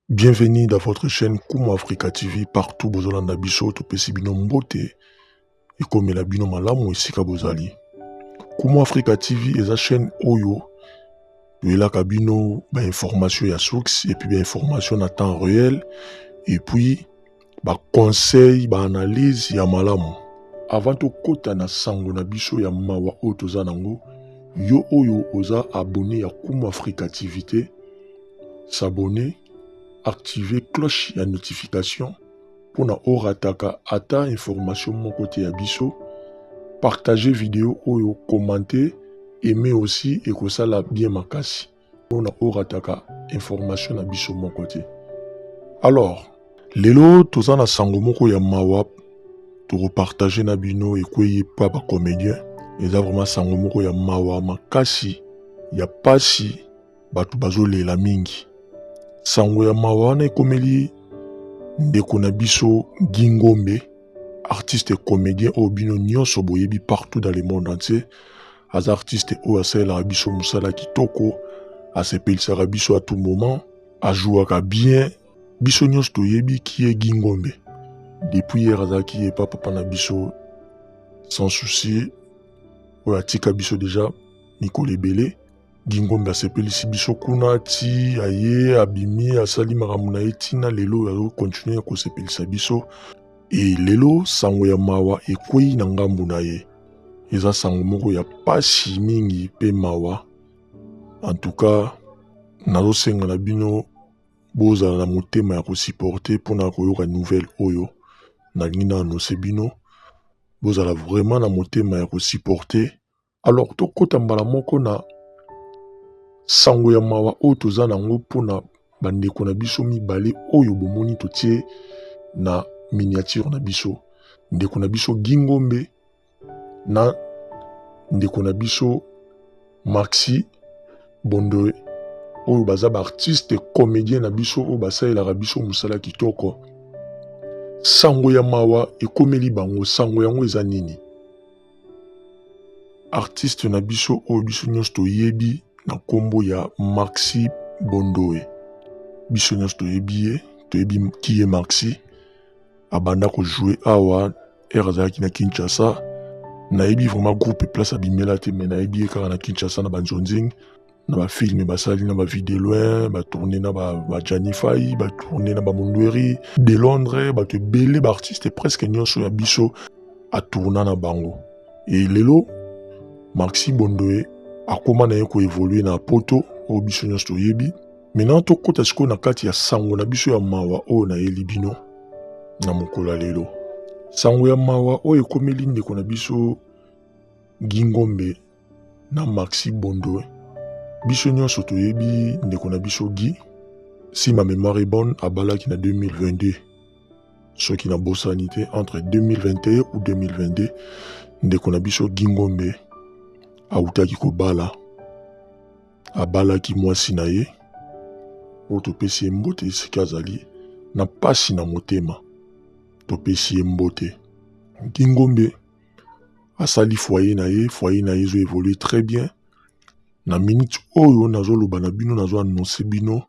Bienvenue dans votre chaîne Kumu Africa TV partout bozolanda biso topesi bino mbote ekomela bino malamu esika bozali Kumu Africa TV eza chaîne oyo toyelaka bino bainformation ya source epuis bainformation na temps réel epuis ba conseil ba analyse ya malamu avant tokota na sango na biso ya mawa oyo toza nango yo oyo oza abonné ya Kumu Africa TV te s'abonner activer cloche ya notification mpo na orataka ata information moko te ya biso partager video oyo commenter aimer aussi ekosala bien makasi mpona orataka information na biso moko te alors lelo toza na sango moko ya mawa tokopartage na bino ekwei epa bacomédien eza vraiment sango moko ya mawa makasi ya pasi bato bazolela mingi sango ya mawa wana ekomeli ndeko na biso gingombe artiste comédien oyo bino nyonso boyebi partout dans le monde entier aza artiste oyo asalelaka biso mosala kitoko asepelisaka biso à tout moment ajouaka bien biso nyonso toyebi kie gingombe depuis hier azalaki epa papa na biso sans souci oyo atika biso deja mikolo ebele gingombe asepelisi biso kuna ti aye abimi asali makambo na ye ntina lelo oyo azokontinue kosepelisa biso e lelo sango ya mawa ekwei na ngambo na ye Eza sango moko ya pasi mingi pe mawa. En tout cas, nazo senga na bino bozala na motema ya ko supporter pona koyoka nouvelle oyo nalingi na annoncer bino. Bozala vraiment na motema ya ko supporter. Alors tokota mbala moko na sango ya mawa oyo toza na yango pona Bandeko na biso mibale oyo bomoni totie na miniature na biso, ndeko na biso Gingombe na ndeko na biso Maxi Bondoe oyo baza baartiste comédien na biso oyo basalelaka biso mosala kitoko. Sango ya mawa ekomeli bango, sango yango eza nini? artiste na biso oyo biso nyonso toyebi na nkombo ya Maxi Bondoe. Biso nyonso toyebi ye, toyebi ki ye Maxi. Abanda kojoue awa ere azalaki na Kinshasa. Nayebi vraiment groupe place abimela te, mais nayebi ye kaka na Kinshasa na Banzonzing. na ba films basali na ba vie de loin ba tourner na ba, ba Janify ba tourner na ba Mundweri de Londres bato ebele ba artistes presque nyonso ya biso atourna na bango e lelo Maxi Bondoe akoma na ye koevolue na poto oyo biso nyonso toyebi maintenant tokɔta sikoyo na kati ya sango na biso ya mawa oyo nayeli bino na mokolo ya lelo sango ya mawa oyo ekomeli ndeko na biso gingombe na Maxi Bondwe. Biso nyonso toyebi ndeko na biso Guy, si ma memoire est bonne, abalaki na 2022. Soki na bosani te entre 2021 ou 2022, ndeko na biso Guy Ngombe awutaki kobala, abalaki mwasi na ye oyo topesi ye mbote esika azali na mpasi na motema, topesi ye mbote. Guy Ngombe asali foyer na ye foyer na ye ezo évoluer très bien na minute oyo nazoloba na bino nazo annonce bino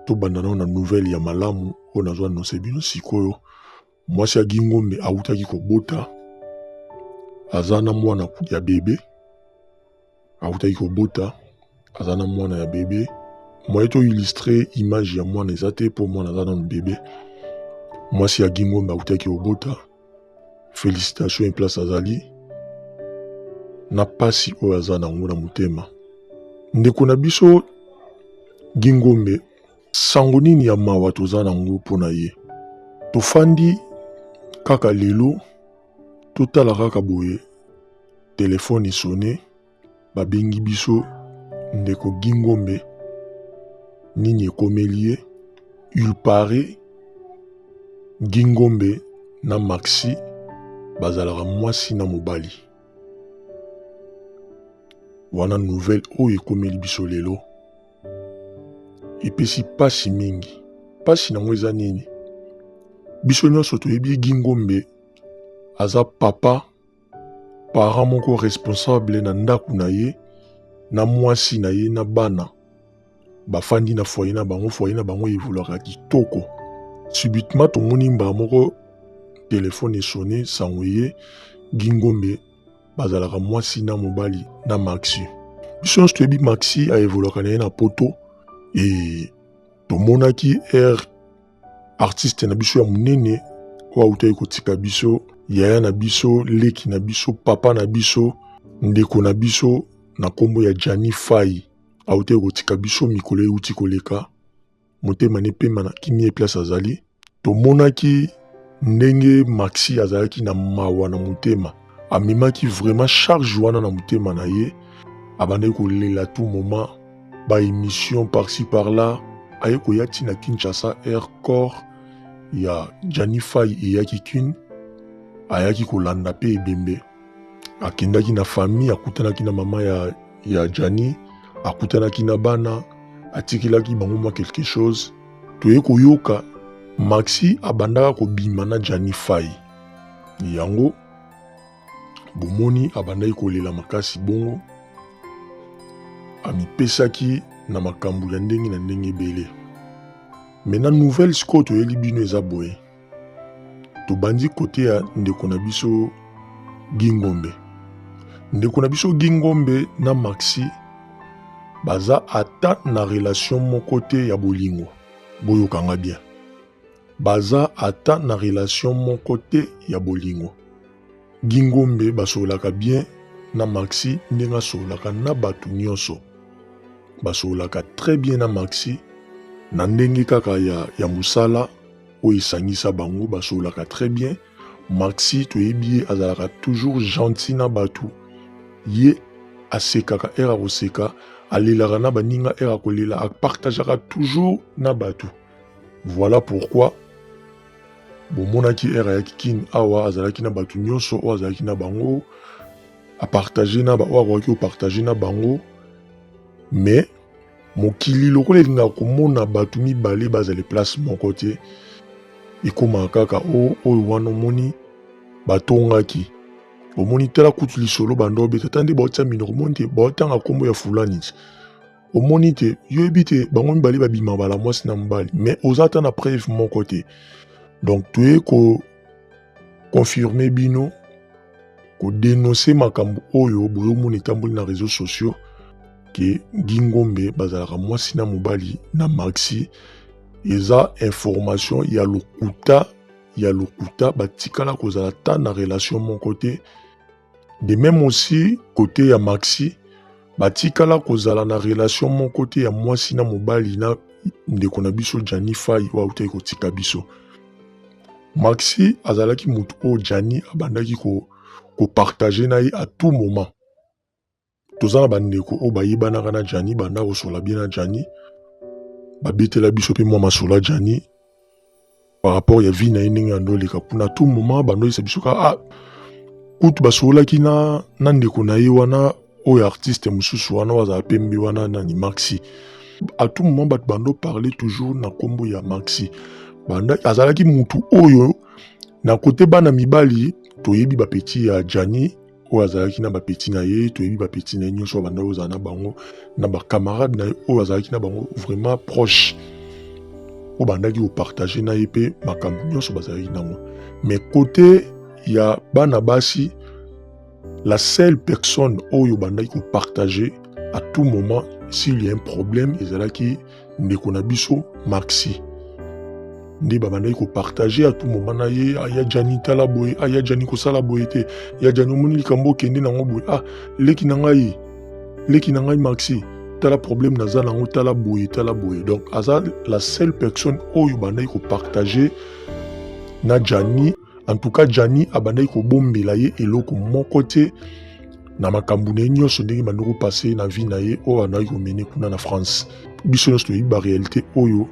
tobanda nao na nouvelle ya malamu oyo nazo annonce bino sikoyo mwasi ya gingombe awutaki kobota aza na mwana ya bebe awutaki kobota aza na mwana ya bebe moye to illustre image ya mwana eza te mpo mwana aza nanu bebe mwasi ya gingombe awutaki kobota félicitation eplace azali na mpasi oyo aza na yango na motema ndeko na biso gingombe sango nini ya mawa toza na yango mpo na ye tofandi kaka lelo totala kaka boye telefone esone babengi biso ndeko gingombe nini ekomeli ye il paraît gingombe na maxi bazalaka mwasi na mobali wana nouvelle oyo ekomeli biso lelo epesi mpasi mingi. Mpasi nango eza nini? Biso nyonso toyebi Guy Ngombe aza papa parent moko responsable na ndako na ye na mwasi na ye na bana bafandi na foyer na bango foyer na bango evolaka kitoko subitement tomoni mbala moko telefone esone sango eye gingombe bazalaka mwasi na mobali na maxi biso nyonso toyebi maxi aevolaka na ye na poto e tomonaki r artiste na biso ya monene oyo autaki kotika biso yaya na biso leki na biso papa na biso ndeko na biso na nkombo ya jani fai autaki kotika biso mikolo euti koleka motema n'epema na kimie place azali tomonaki ndenge maxi azalaki na mawa na motema amemaki vraiment charge wana na motema na ye abandaki kolela tout moment ba émission par-ci par-là aye koya ti na kinshasa air corps ya janifai eyaki kin ayaki kolanda mpe ebembe akendaki na famille akutanaki na mama ya, ya jani akutanaki na bana atikelaki bango mwa quelque chose toye koyoka maxi abandaka kobima na jani fai yango bomoni abandaki kolela makasi bongo amipesaki na makambo ya ndenge na ndenge ebele me na nouvelle sikoyo toyeli bino eza boye tobandi kote ya ndeko na biso gingombe ndeko na biso gingombe na maxi baza ata na relation moko te ya bolingo boyokanga bien baza ata na relation moko te ya bolingo gingombe basololaka bien na maxi ndenge asololaka na bato nyonso basololaka très bien na maxi na ndenge kaka ya, ya mosala oyo esangisa bango basololaka très bien maxi toyebi ye azalaka toujours gentil na bato ye asekaka ere akoseka alelaka na baninga ere akolela apartageaka toujours na bato voilà pourquoi bomonaki ere ayaki kini awa azalaki na bato nyonso oyo azalaki na bango apartage na baoyo akokaki kopartage na bango mais Mokili lokola elingaka komona bato mibale bazali place moko te, ekomaka kaka o oh, oyo wana omoni batongaki omoni tala kutu lisolo banda obeta ata nde baotya minoko omoni te baotanga nkombo ya fulani ti omoni te yo yebi te bango mibale babima bala mwasi na mobali mais oza ata na preuve moko te donc toye ko confirme bino ko denoncer makambo oyo boyomona etamboli na réseaux sociaux ke Guy Ngombe bazalaka mwasi na mobali na Maxi eza information ya lokuta ya lokuta batikala kozala ata na relation moko te de même aussi kote ya Maxi batikala kozala na relation moko te ya mwasi na mobali na ndeko na biso Gianni Fay oyo autaki kotika biso Maxi azalaki moto oyo Gianni abandaki ko kopartage na ye à tout moment toza na bandeko oyo bayebanaka na Gianni banda kosola bie na Gianni babetela biso mpe mwa masola Gianni par rapport ya vie na ye ndenge yando oleka kuna tout moment bandoyisa biso ka ah, kutu basololaki na, na ndeko na ye wana oyo artiste mosusu wana oyo azala pembe wana nani maxi à tout moment bato bando parler toujours na nkombo ya maxi banda azalaki mutu oyo na kote bana mibali toyebi bapeti ya jani oyo azalaki na bapeti na ye toyebi bapeti na ye nyonso ya banda oyo ozala na bango na bacamarade na ye oyo azalaki na bango vraiment proche oyo bandaki kopartage na ye mpe makambo nyonso bazalaki nango mais kote ya bana basi La seule personne oyo bandaki ko partager à tout moment s'il y a un problème ezalaki ndeko na biso Maxi nde babandaki kopartage atu moma na ye aya ah, jani tala boye aya ah, jani kosala boye te ya jani omoni likambo okende nango boye ah leki na ngai leki na ngai maxi tala problème naza nango tala boye tala boye donc aza la seule personne oyo bandaki kopartage na jani en tout cas Gianni abandaki kobombela ye eloko moko te na makambo na ye nyonso ndenge bandoko passe na vie na ye oyo andaki komene kuna na france biso nyonso toyebi barealité oyo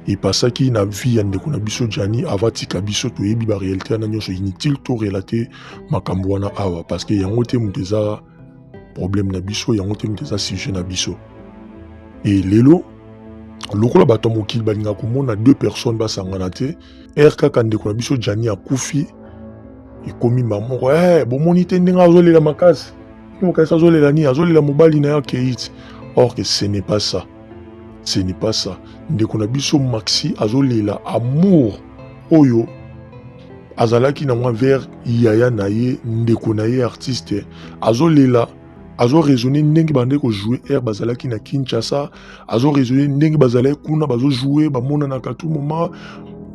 epasaki na vie ya ndeko na biso jani ava tika biso toyebi barealité wana nyonso inutile to relate makambo wana awa parce que yango te moto eza problème na biso yango te moto eza sujet na biso e lelo lokola bato ya mokili balingaka komona deux personnes basangana te Heure kaka ndeko na biso Gianni akufi ekomi mba moko eh bomoni te ndenge azolela makasi. Mokanisi azolela nini? Azolela mobali na ye akei ti. Or que ce n'est pas ça. Ce n'est pas ça. Ndeko na biso Maxi azolela amour oyo azalaki na mwa vers yaya na ye ndeko na ye artiste azolela azo raisonner ndenge bande ko jouer air bazalaki na Kinshasa azo raisonner ndenge bazalaki kuna bazo jouer bamonanaka tout moment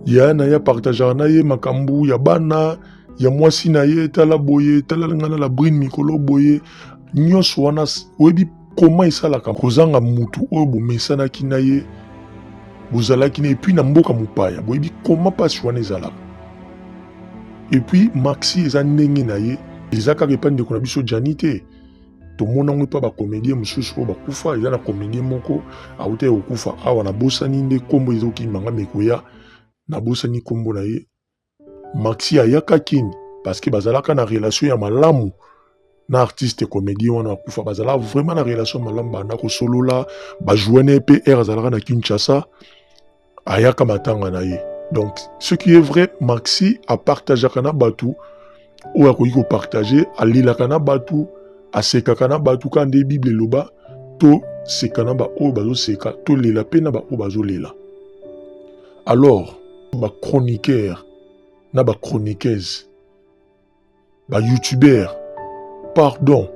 ya na ya partageaka na ye makambo ya bana ya mwasi na ye tala boye tala nga na la brine mikolo boye nyonso wana oyebi koma esalaka kozanga mutu oyo bomesanaki na ye bozalaki na epuis na mboka mopaya boyebi koma mpasi wana ezalaka et puis maxi eza ndenge na ye eza kaka epai ndeko na biso jani te tomona yango epai bacomédien mosusu oyo bakufa eza na comédien moko awuta ya kokufa awa nabosani nde nkombo ezokima nga mekoya nabosani nkombo na ye maxi ayaka kini parce que bazalaka na relation ya malamu na artiste comédien wana akufa bazalaka vraiment na relation malamu banda kosolola bajoue na ye mpe aire azalaka na kinshasa ayaka matanga na ye donc ce qui est vrai maxi apartageaka na bato oyo akoki kopartage alelaka na bato asekaka na bato kaka nde bible eloba toseka na baoyo bazoseka tolela mpe na baoyo bazolela alors bachroniqueur na bachroniqueuse ba youtubeur pardon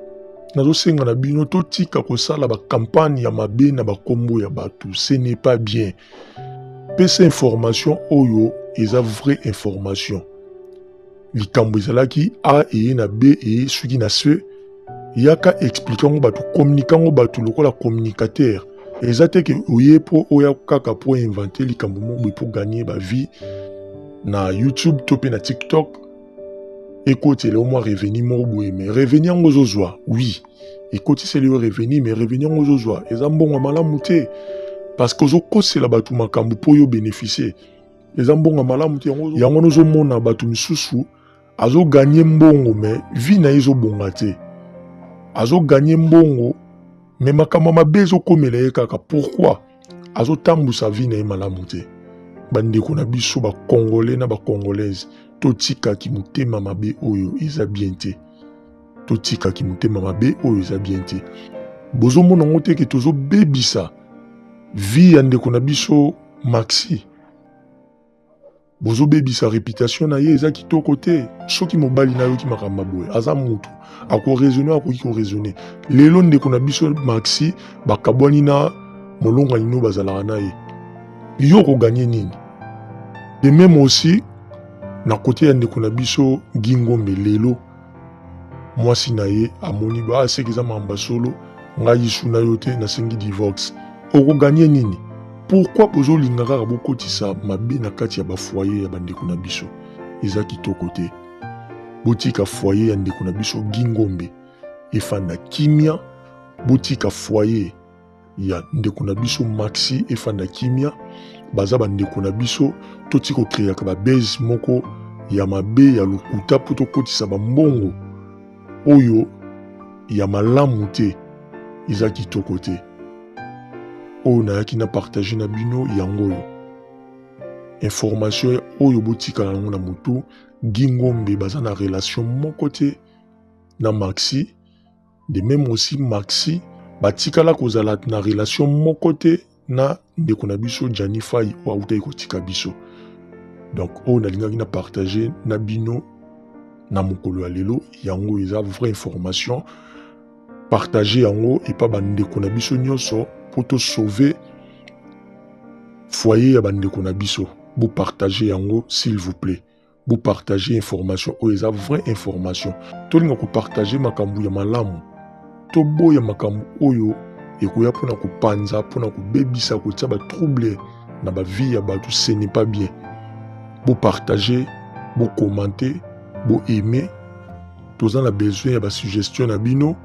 nazosenga na bino totika kosala bakampagne ya mabe na bakombo ya bato ce n'est pas bien pesa information oyo eza vraie information likambo ezalaki a eye na b eye soki na ce yaka explike yango bato communike yango bato lokola communicateur eza te ke oye mpo oya kaka mpo invente likambo moko boye mpo gagne bavie na youtube to mpe na tiktok ekotela yo mwa revenu moko boye me revenu yango ozozwa wi ekotiseli yo revenu me revenu yango ozozwa eza mbongo ya malamu te parce que ozokosela bato makambo mpo yo beneficie eza mbongo ya malamu te yango yango nozomona bato misusu azoganye mbongo me vi na ye ezobonga te azoganye mbongo me makambo ya mabe ezokomela ye kaka pourkui azotambwisa vi na ye malamu te bandeko na biso bakongole na bakongolaise totika kimotema mabe oyo eza bien te totika kimotema mabe oyo eza bien te bozomona yango te ke tozobebisa vi ya ndeko na biso maxi bozobebisa reputation na ye eza kitoko te soki mobali nayoki makambo boye aza mutu akoraisonne akoki koraisonne lelo ndeko na biso maxi bakabwani na molongani no bazalaka na ye yo okoganye nini de meme aussi na kote ya ndeko na biso gingombe lelo mwasi na ye amoni ba ah, seke eza mamba solo ngai yisu na yo te nasengi divorce okoganye nini pourkui bozolinga kaka bokotisa mabe na kati ya bafoye ya bandeko na biso eza kitoko te botika foye ya ndeko na biso gingombe efanda kimia botika foye ya ndeko na biso maxi efanda kimia baza bandeko na biso toti kokreaka babase moko ya mabe ya lokuta mpo tokotisa bambongo oyo ya malamu te eza kitoko te oyo nayaki na partage na bino yango oyo information oyo botikala yango na motu gingombe baza na relation moko te na maxi De meme aussi Maxi batikala kozala na relation moko te na ndeko na biso Gianni Fai oyo awutaki kotika biso. Donc oyo nalingaki na partager na bino na mokolo ya lelo yango eza vraie information partage yango epa bandeko na biso nyonso mpo tosauve foyer ya bandeko na biso bopartage yango s'il vous plaît Bo partager information oyo eza vraie information. Tolinga ko partager makambo ya malamu. Toboya makambo oyo ekoya mpona kopanza mpona kobebisa kotia ba trouble na ba vie ya bato ce n'est pas bien. Bo partager, bo commenter, bo aimer. Toza na besoin ya ba suggestion na bino.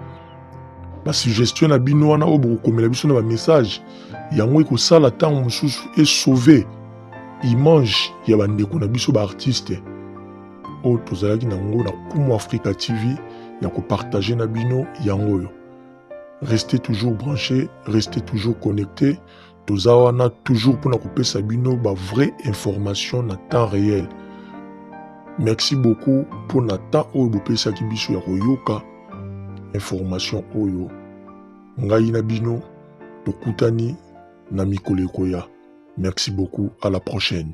Ba suggestion na bino wana oyo bokokomela biso na ba message yango ekosala ntango mosusu e sauver image ya bandeko na biso baartiste oyo tozalaki na yango na kumu africa tv ya kopartage na bino yango oyo restez toujours branché restez toujours connecté toza wana toujours mpona kopesa bino ba vraie information na temps réel merci beaucoup mpo na temps oyo bopesaki biso ya koyoka information oyo ngai na bino tokutani na mikolo ekoya merci beaucoup à la prochaine.